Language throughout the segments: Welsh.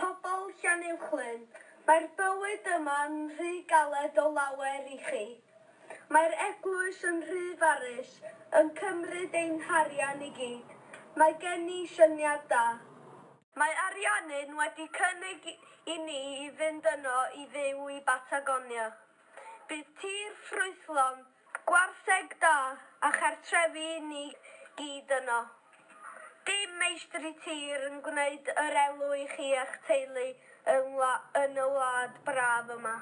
Pobl Llanuwchllyn, mae'r bywyd yma'n rhy galed o lawer i chi. Mae'r eglwys yn rhy farus, yn cymryd ein harian i gyd. Mae gen i syniad da. Mae Ariannin wedi cynnig i ni i fynd yno i fyw i Batagonia. Bydd tir ffrwythlon, gwartheg da a chartrefi i ni gyd yno. Dim meistri tir yn gwneud yr elw i chi a'ch teulu yn y wlad braf yma.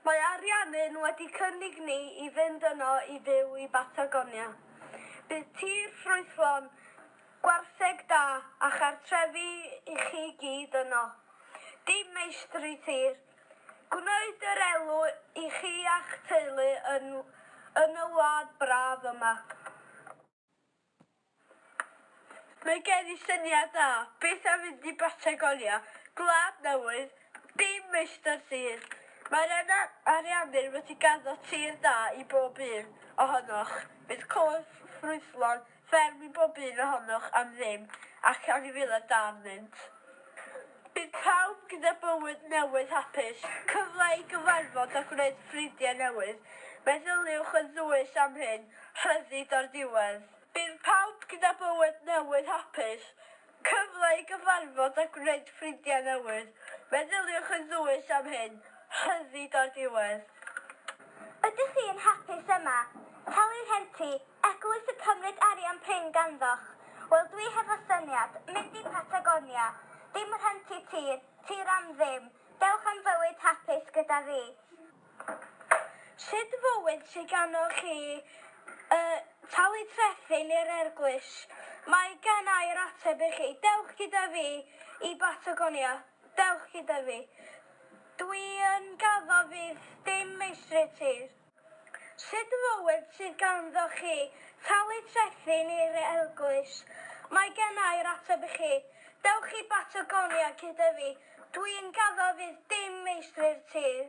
Mae Ariannin wedi cynnig ni i fynd yno i fyw i Batagonia. Bydd tir ffrwythlon, gwartheg da a chartrefi i chi gyd yno. Dim meistri tir Gwneud yr elw i chi a'ch teulu yn yn y wlad braf yma. Mae gen i syniad dda, beth am fynd i Batagonia, gwlad newydd, dim meistr tir. Mae'r Yna Ariannin wedi gaddo tir da i bob un ohonoch, bydd côr ffrwythlon, Fferm i bob un ohonoch am ddim, ac anifeiliaid da arnynt. Bydd pawb gyda bywyd newydd hapus, cyfle i gyfarfod a gwneud ffrindiau newydd. Meddyliwch yn ddwys am hyn, rhyddid o'r diwedd. Bydd pawb gyda bywyd newydd hapus, cyfle i gyfarfod a gwneud ffrindiau newydd. Meddyliwch yn ddwys am hyn, rhyddid o'r diwedd. Ydych chi yn hapus yma? Talu'r rhenti, Eglwys y cymryd arian prin ganddoch? Wel dwi hefo syniad, mynd i Patagonia. Dim rhentu tir, tir am ddim. Dewch am fywyd hapus gyda fi. Sut fywyd sy ganddoch chi? Yy, talu trethi neu'r erglwys. Mae gen ai'r ateb i chi. Dewch gyda fi i Batagonia. Dewch gyda fi. Dwi yn gaddo fydd dim meistri tir. Sut fywyd sydd ganddoch chi? Talu trethi neu'r eglwys? Mae genna i'r ateb i chi. Dewch i Batagonia gyda fi. Dw i'n gaddo fydd dim meistri'r tir.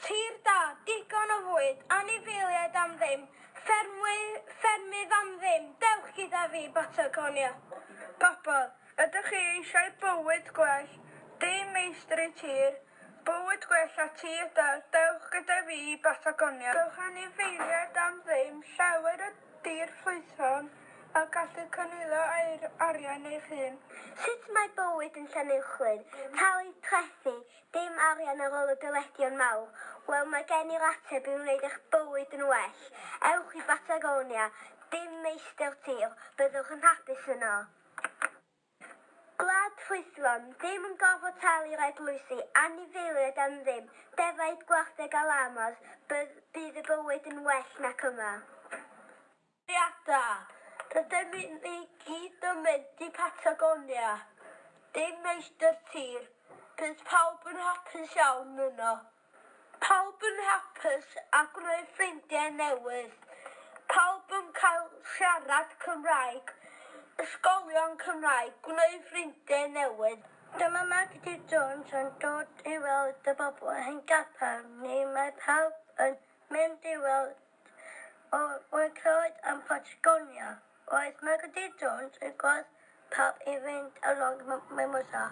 Tir da, digon o fwyd, anifeiliaid am ddim, ffermydd am ddim, dewch gyda fi i Batagonia. Pobl, ydych chi eisiau bywyd gwell, dim meistri tir, Bywyd gwell a ti yda, dewch gyda fi i Batagonia. Dewch anifeiliaid am ddim, llawer o dir ffrwythlon a gallu cynilo aer arian eich hun. Sut mae bywyd yn Llanuwchllyn? Talu trethi, dim arian ar ôl y dyledion mawr? Wel, mae gen i'r ateb i wneud eich bywyd yn well. Ewch i Batagonia, dim meistr tir, byddwch yn hapus yno. Gwlad ffrwythlon, ddim yn gorfod talu'r eglwysi, anifeiliaid am ddim, defaid, gwartheg a llamas, bydd y bywyd yn well nac yma. Etholiada, rydym ni gyd yn mynd i Patagonia, dim meistr tir, bydd pawb yn hapus iawn yno. Pawb yn hapus a gwneud ffrindiau newydd, pawb yn cael siarad Cymraeg, ysgolion Cymraeg, gwneud ffrindiau newydd. Dyma Magdy Jones yn dod i weld y bobl ein capel ni, mae pawb yn mynd i weld o wedi clywed am Patagonia. Roedd Magdy Jones yn gwadd pawb i fynd along Mimosa.